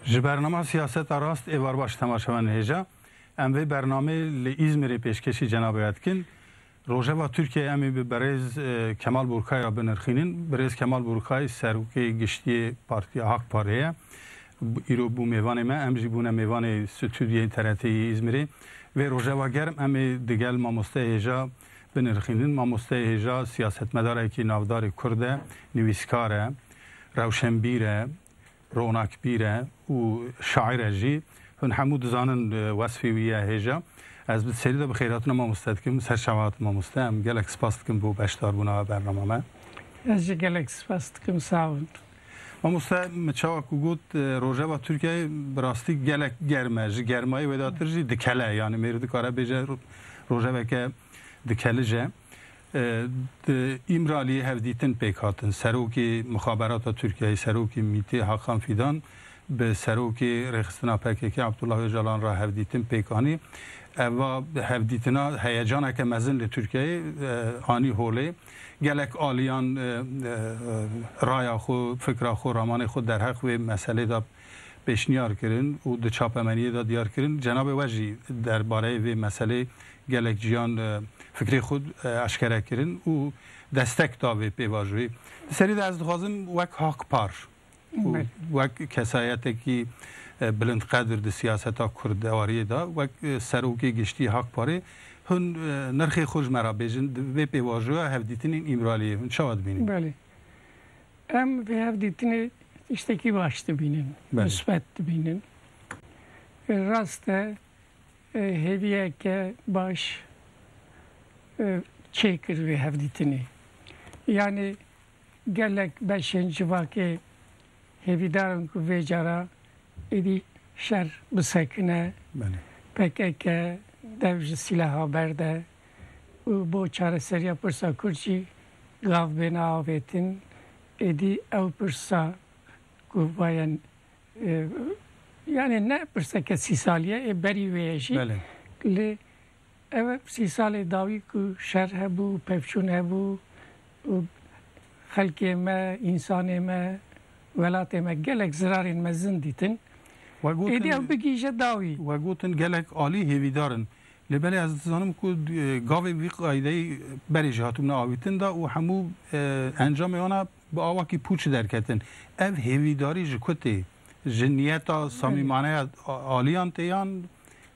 Ji bernama Siyaseta Rast êvar baş temaşevan dihêja. Em vê bernameyê li Îzmîrê pêşkêşî cenabê we dikin. Rojeva Tirkiyeyê em ê bi berêz Kemal Burkay re binirxînin. Birêz Kemal Burkay Serokê Giştiyê Partiya Hak Parê ye. Îro bû mêvanê me. Em jî bûne mêvanê stûdyeyên TRT'ê yê Îzmîrê. Vê rojeva germ em ê digel mamosteyê hêja binirxînin. Mamosteyê hêja siyasetmedarekî navdarê Kurd e, nivîskar e, rewşenbîr e, Ronakbîr e û şaîr e jî. Hûn hemû dizanin wesfê wî ye hêja. Ez bi serî de bi xeyratina mamoste dikim. Serçava hate mamoste. Em gelek spas dikim bo beşdarbûna we bernama me. Ez jî gelek spas dikim. Sağ bin. Mamoste min çawa ku got rojeva Tirkiyeyê bi rastî gelek germ e. Ji germayê wêdatir jî dikele. Yanî mêr dikare bêje rojeveke dikelij e. Di Îmraliyê hevdîtin pêk hatin. Serokê Mixaberata Tirkiyeyê, Serokê MÎT'ê Hakan Fîdan bi Serokê Rêxistina pkk Abdullah Ocalan re hevdîtin pêk anî. Eva hevdîtina heyecaneke mezin li Tirkiyeyê anî holê. Gelek aliyan raya xwe, fikra xwe, ramanê xwe derheq vê meselê de pêşniyar kirin û di çapemeniyê de diyar kirin. Cenabê we jî der bareyê vê meselê gelek ciyan fikrê xwe eşkere kirin û destek da vê pêvajoyê. Di serî de ez dixwazim wek Hakpar û wek kesayetekî bilind qedir di siyaseta kurdewariyê de, wek Serokê Giştî Hakparê hûn nirxê xwe ji me re bêjin di vê pêvajoya hevdîtinên Îmraliyê hûn çawa dibînin? Belê. Em vê hevdîtinê tiştekî baş dibînin, misbet dibînin. Rast e hêviyeke baş çêkir vê hevdîtinê. Yanî gelek beşên civakê hêvîdarin ku vê cara êdî şer bisekine, pkk dev ji sîlaha berde û bo çareseriya pirsa kurd jî, Lav bêne avêtin, êdî ew pirsa ku vayen yanê ne pirseke sî salî ye ê berî wê ye jî lê ew sî salê dawî ku şer hebû, pevçûn hebû û xelkê me, însanê me, welatê me gelek zirarên mezin dîtin. Êdî ew bigîje dawî. We gotin gelek alî hêvîdar in. Lê belê ez dizanim ku gavên vî qaydeyî berê jî hatibûne avîtin de û hemû encamê wan a bi awakî pûç derketin. Ev hêvîdarî ji ku tê? Ji niyeta samîmaneya aliyan tê yan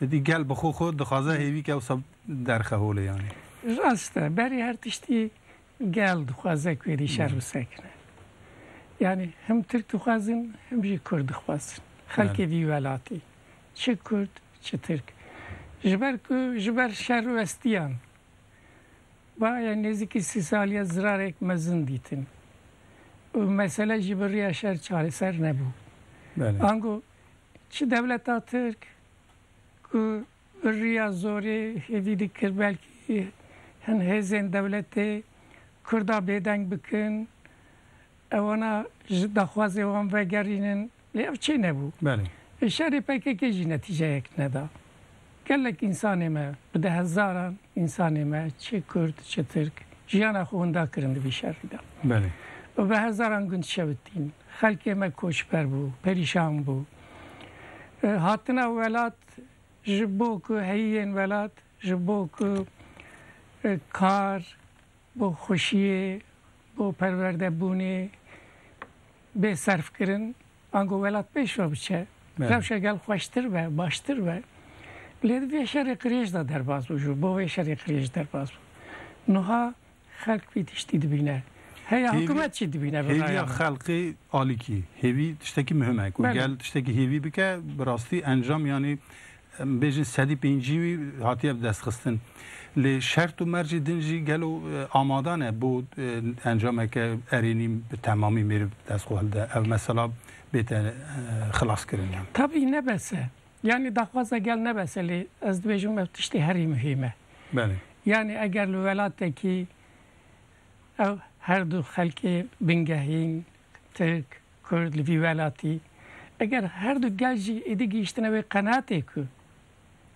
êdî gel bi xwe xwe dixwaze hêvîke wisa derxe holê yanî? Rast e, berê her tiştî gel dixwaze ku êdî şer bisekine. Yanî him tirk dixwazin him jî kurd dixwazin. Xelkê vî welatî. çi Kurd çi Tirk ji ber ku ji ber şer û estiyan bayê nêzîkî sî saliye zirarek mezin dîtin û mesele jî bi riya şer çareser nebû. Ango çi dewleta Tirk ku bi riya zorê hêvî dikir belkî hin hêzên dewletê Kurda bêdeng bikin Ewana ji daxwazê wan vegerînin lê ev çê nebû. Îşarê pkk jî netîceyek neda. Gelek însanê me, bi dehezaran însanê me çi kurd çi tirk jiyana xwe winda kirin di vî şerî de û bi hezaran gund şewitîn. Xelkê me koçber bû, perîşan bû. Hatina welat ji bo ku heyî yên welat ji bo ku kar, bo xweşiyê, bo perwerdebûnê bê serf kirin, ango welat pêş ve biçe, rewşa gel xweştir be, baştir be. Lê di vê şerê qirêj de derbas bû, ji bo vê şerê qirêj derbas bû. Nuha xelk vî tiştî dibîne. Heya hikûmet çi dibîne bi raya me? Hêviya xelkê alikî, hêvî tiştekî muhim e. Ku gel tiştekî hêvî bike, bi rastî encam yanî Em bêjin sedî pêncî wî hatiye bi dest xistin. Lê şert û mercê din jî gelo amada ne bo encameke erênî bi temamî mêr bi dest xwe hilde. Ev mesela bête xilaskirin yan. Tabî ne bes e. Yanî daxwaza gel ne bes e lê ez dibêjim ev tiştê herî muhîm e. Belê. Yanî eger li welatekî ew her du xelkê bingehîn, tirk, Kurd li vî welatî eger her du gel jî êdî gihîştine wê qenatê ku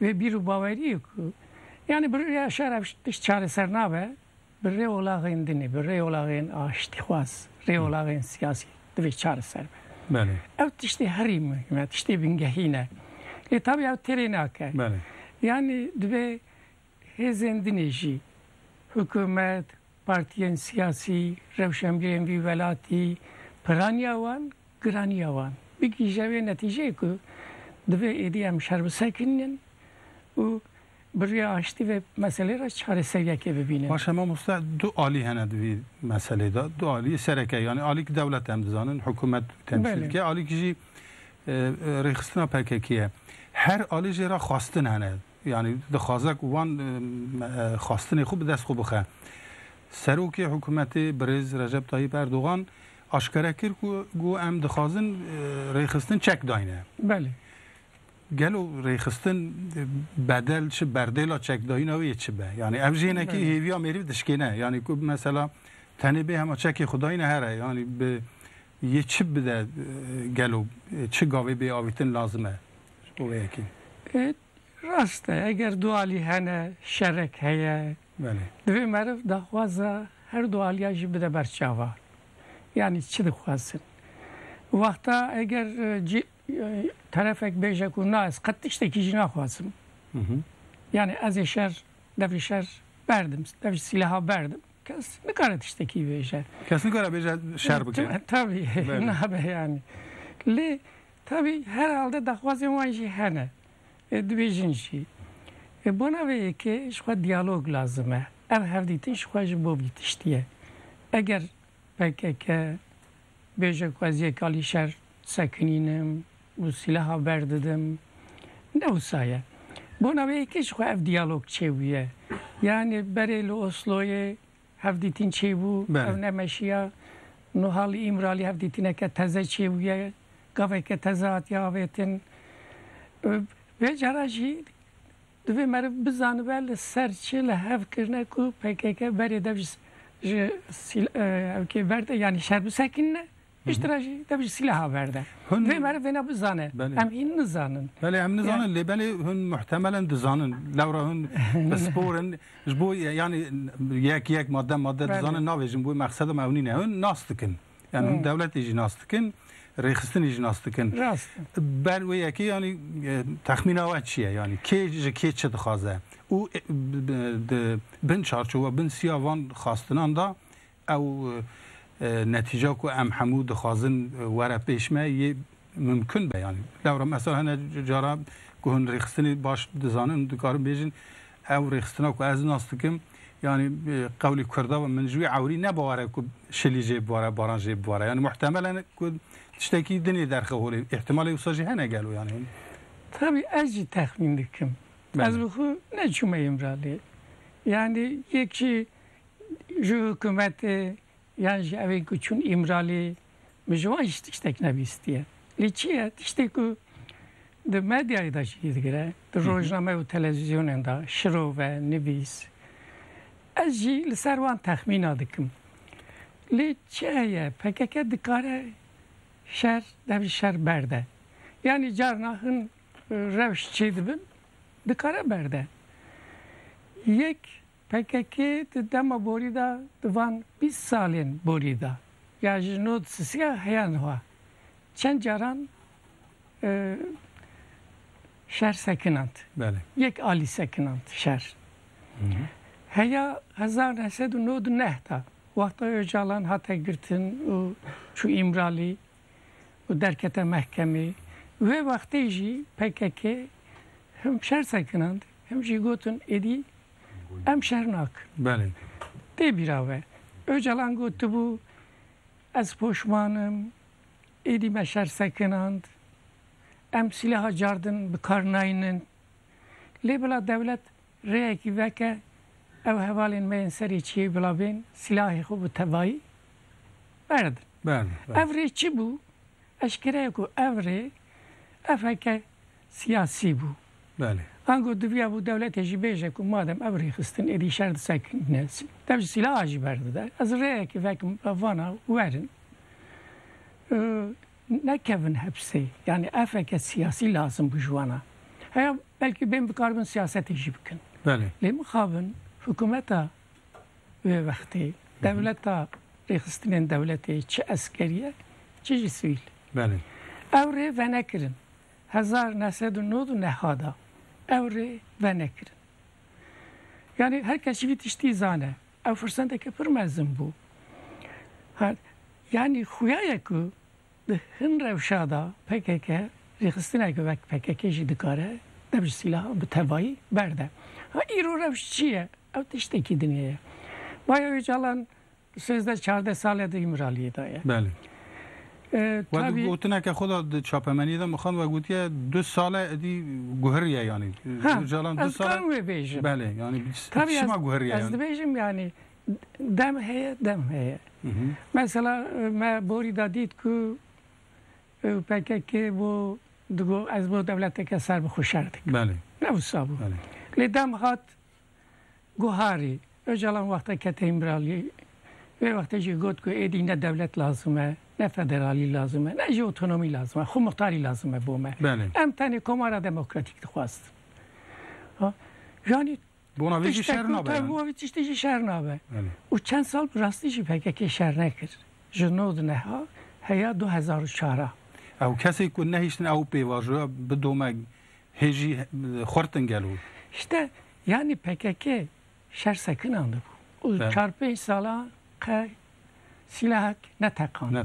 wê bîr û baweriyê ku yanî bi rêya şer ev tişt çareser nabe bi rêolaxên dinê, bi rêolaxên aştîxwaz, rêolaxên siyasî divê çareser be. Ew tiştê herî muhîm e, tiştê bingehîn e. Lê tabî ev têrê nake. Yanî divê Hêzên din ê jî, hikûmet, partiyên siyasî, rewşenbîrên vî welatî, piraniya wan, giraniya wan bigihîje vê netîjeyê ku divê êdî em şer bi ser kirînin û bi rêya aştî vê meseleyê re çareser yekê bibînin. Baş e mamoste, du alî hene di vî meseleyê de. Du alî sereke yanî alîk dewlet em dizanin, hikûmet û temsîlke, alîk jî rêxistina PKK'ê ye. Her alî jê re xwestin hene. Yanî dixwaze ku wan xwastinê xwe bi dest xwe bixe. Serokê hikûmetê birêz Recep Tayyîp Erdogan aşkere kir ku ku em dixwazin rêxistin çek dayne. Belê. Gelo rêxistin bedel çi berdêla çekdayîna wê yê çi be? Yanî ev jî hinekî hêviya mêrî dişkêne. Yanî ku mesela tenê bê hema çekê xwe dayîne here yanî bi Yê çi bide gelo? Çi gavê bê avîtin lazim e? Ji bo vê yekê. Rast e, eger du alî hene, şerek heye, divê meriv daxwaza her du aliyan jî bide ber çavan. Yanî çi dixwazin? Wexta eger cî terefek bêje ku na ez qet tiştekî jî naxwazim. Yanî ez ê şer, dev ê şer berdim, dev ji sîleha berdim. Kes nikare tiştekî bêje. Kes nikare bêje şer bike. Tabî nabe yanî. Lê tabî her halde daxwazên wan jî hene. Dibêjin jî. Bona vê yekê ji xwe diyalog lazim e. Ev hevdîtin ji xwe ji bo vî tiştî ye. Eger pkk bêje ku ez yek alî şer sekinînim, û silaha berdidim. Ne wisa ye. Bona wê yekê jixwe ev diyalog çêbûye. Yanî berê li Osloyê hevdîtîn çêbû, ew nemeşiya. Nuha li Îmralî hevdîtîneke teze çêbûye, gaveke teze hatiye avêtin. Vê cara jî divê meriv bizanibe li ser çi li hev kirine ku pkk berê dev ji ji hevkê berde yanî şer bisekinine Piştre jî te bijî silaha berde. Hûn vê merivêna bizane. Em hîn nizanin. Belê em nizanin lê belê hûn muhtemelen dizanin. Lewra hûn pisporin ji bo yanî yek yek madde madde dizanin navêjin bo mexseda me ew nîne. Hûn nas dikin. Yan hûn dewletê jî nas dikin, rêxistinê jî nas dikin. Rast. Ber wê yekê yanî texmîna we çi ye yanî kê ji kê çi dixwaze û bin çarçowa bin siya van xastinan da Ew netîca ku em hemû dixwazin were pêş me yê mimkun be yanî lewra me sar hene cara ku hûn rêxistinê baş dizanin dikarin bêjin ew rêxistina ku ez nas dikim yanî qewlê kurda be min ji wî ewrî ne baware ku şilî jê bibare baran jê bibare yanî muhtemel e ku tiştekî din ê derxe holê îhtimalê wisa jî hene gelo yanî Tabi ez jî texmîn dikim ez bi xwe neçûme Îmraliyê yanî yekî Ji hikûmetê yan ji evê ku çûn Îmraliyê min ji wan jî tiştek nebîstiye. Lê çi ye? Tiştê ku di medyayê de jî digire, di rojname û televîzyonên de, şirov e, nivîs. Ez jî li ser wan texmîna dikim. Lê çi heye? Pkk dikare şer dev ji şer berde. Yanî carna hin rewş çêdibin dikare berde. Yek Pkk di dema borî de di van bîst salên borî de ya ji no sisiya heya niha çend caran şer sekinand. Yek alî sekinand şer. Heya hezar neh sed û nod û neh de wexta Ocalan hate girtin û çû Îmralî û derkete mehkemê wê wextê jî pkk him şer sekinand him jî gotin êdî Em şer nakin. Tê bîra we Ocalan gotibû ez poşman im, êdî me şer sekinand, em sîleha cardin bi kar naynin. Lê bila dewlet rêyekî veke ew hevalên me yên serê çiyê bila bên sîlahê xwe bi tevayî berdin. Ev rê çi bû? Eşkere ye ku ev rê FHK siyasî bû. Ango diviya bû dewletê jî bêje ku madem ev rêxistin êdî şer di ser kengnesî. Dev ji sîlaha jî berdide. Ez rêyekê vekim bi vana werin nekevin hepsê. Yanî efeke siyasî lazim bû ji wana. Heya belkî bên bikaribin siyasetê jî bikin. Lê mixabin hikumeta Wê wextê dewleta rêxistinên dewletê çi eskerî ye çi jî sivîl. Belê. Ew rê venekirin. Hezar neh sed û nod û neha de ew rê venekirin. Yanî her kes jî vî tiştî zane. Ew firsendeke pir mezin bû. Yanî xuya ye ku Di hin rewşa de pkk rêxistineke wek pkk jî dikare dev ji sîlahan bi tevayî berde. Ha îro rewş çi ye? Ew tiştekî din heye. Baya Ocalan sêzdeh çardeh sal e di Îmraliyê de ye. Belê. Wek di gotineke xwe de di çapemeniyê de mixand wek gotiye du sal e idî guheriye yanî. Ocalan du sal e. Ez dikarim wê bêjim. Belê. Yanî çima guheriye yanî? Ez dibêjim yanî Dem heye, dem heye. Mesela me borî de dît ku PKK bû digo ez bo dewleteke serbixwe şer dikim. Belê. Ne wisa bû. Belê. Lê dem hat guharî. Ocalan wexta kete îmraliyê Vê wextê jî got ku êdî ne dewlet lazim e, ne federalî lazim e, ne jî otonomî lazim e, xwemixtarî lazim e bo me. Belê. Em tenê komara demokratîk dixwastin. Janî Bona vê jî Tiştek şer ku nabe. taybû wî tiştê jî şer nabe. Belê. Û çend sal bi rastî jî pkk şer nekir. Ji nod neha heya du hezar û çar a. Ew kesê ku nehiştin ew pêvajoya bidome hê jî xurtin gelo. Hişte yanî pkk şer sekinan dibû. Û Be. çar pênc salan qe Silahek neteqand.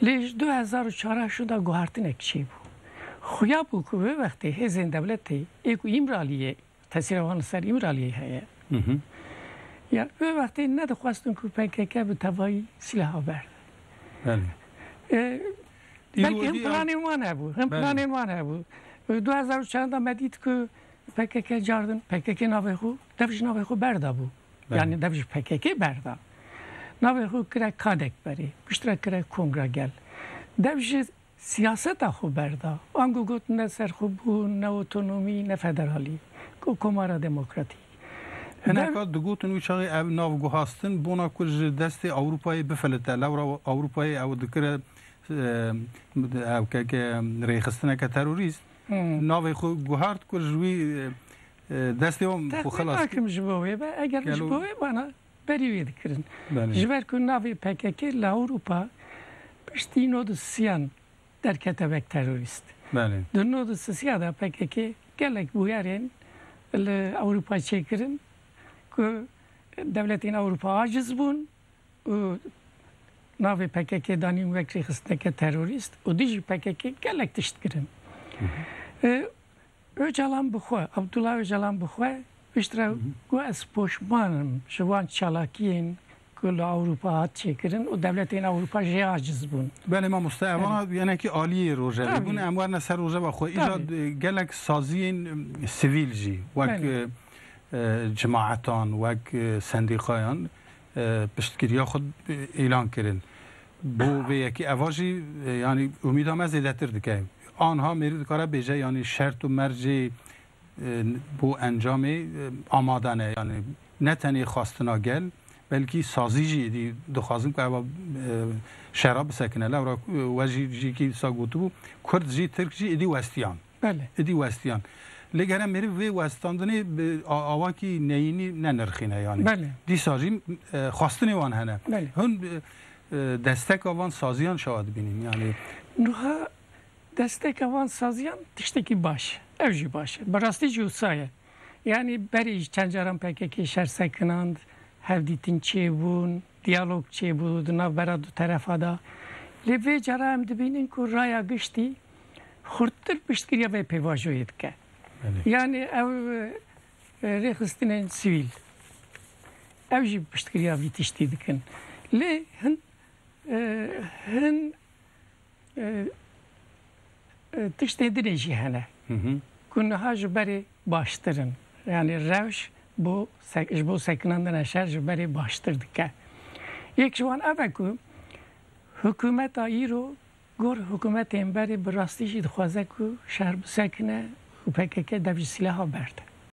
Lê ji du hezar û çar a şû de guhartinek çêbû. Xuya bû ku vê wextê hêzên dewletê yê ku Îmraliyê tesîra wan li ser Îmraliyê heye ya vê wextê nedixwestin ku pkk bi tevayî silaha berde. Belkî him planên wan hebû. Him planên wan hebû. Li du hezar û çar de me dît ku pkk cardin pkk navê xwe dev ji navê xwe berdabû. Yanî dev ji PKK'ê berda. Navê xwe kire Kadekberê, piştre kire Kongra Gel. Dev ji siyaseta xwe berda. Ango got ne serxwebûn, ne otonomî, ne federalî. Got Komara Demokratîk. Hineka digotin wî çaxê ev nav guhastin bona ku ji destê Ewropayê bifelite. Lewra Ewropayê ew dikire ew keke rêxistineke terorîst. Navê xwe guhart ku ji wî Teqînakim ji bo wê be, eger ji bo wê vana berî wê dikirin. Ji ber ku navê pkk li Ewropa piştî nod û sisiyan derkete wek terorîst. Di nod û sisiya de pkk gelek bûyerên li Ewropa çêkirin ku dewletên Ewropa aciz bûn û navê pkk danîn wek rêxistineke terorîst û dijî pkk gelek tişt kirin. Ocalan bi xwe, Abdullah Ocalan bi xwe piştre got ez poşman im ji wan çalakiyên ku li Ewropa hat çêkirin û dewletên Ewropa jê aciz bûn. Belê mamoste ev a yenekî aliyê rojevê bûn em werne ser rojeva xwe îja gelek saziyên sivîl jî wek cemaetan wek sendîqayan piştgiriya xwe îlan kirin. Bo vê yekê eva jî yanî umîda me zêdetir dike. Anha mêrû dikare bêje yanî şert û mercê bo encamê amade ne. Yanî ne tenê xwastina gel belkî sazî jî êdî dixwazin ku eva şera bisekine. Lewra we jî jîkî dîsa gotibû, Kurd jî Tirk jî êdî westiyan. Belê, êdî westiyan. Lê gere mêrîv vê westandinê bi awakî neyînî nenirxîne yanî. Dîsa jî xwestinê wan hene. Hûn desteka van saziyan şawa dibînin yanî. Nuha desteka van saziyan tiştekî baş e. Ew jî baş e. Bi rastî jî wisa ye. Yanî berê jî çend caran pkk şer sekinand, hevdîtin çêbûn, diyalog çêbû di navbera du terefa de. Lê vê cara em dibînin ku raya giştî xurttir piştgiriya vê pêvajoyê dike. Yanî ew rêxistinên sivîl ew jî piştgiriya vî tiştî dikin. Lê hin hin tiştê dinê jî hene ku niha ji berê baştir in. Yanî rewş bo ji bo sekinandina şer ji berê baştir dike. Yek ji wan ev e ku hikumeta îro Gor hikûmetê Enberê bi rastî jî dixwaze ku şer bisekine û pkk dev ji sîlaha berde.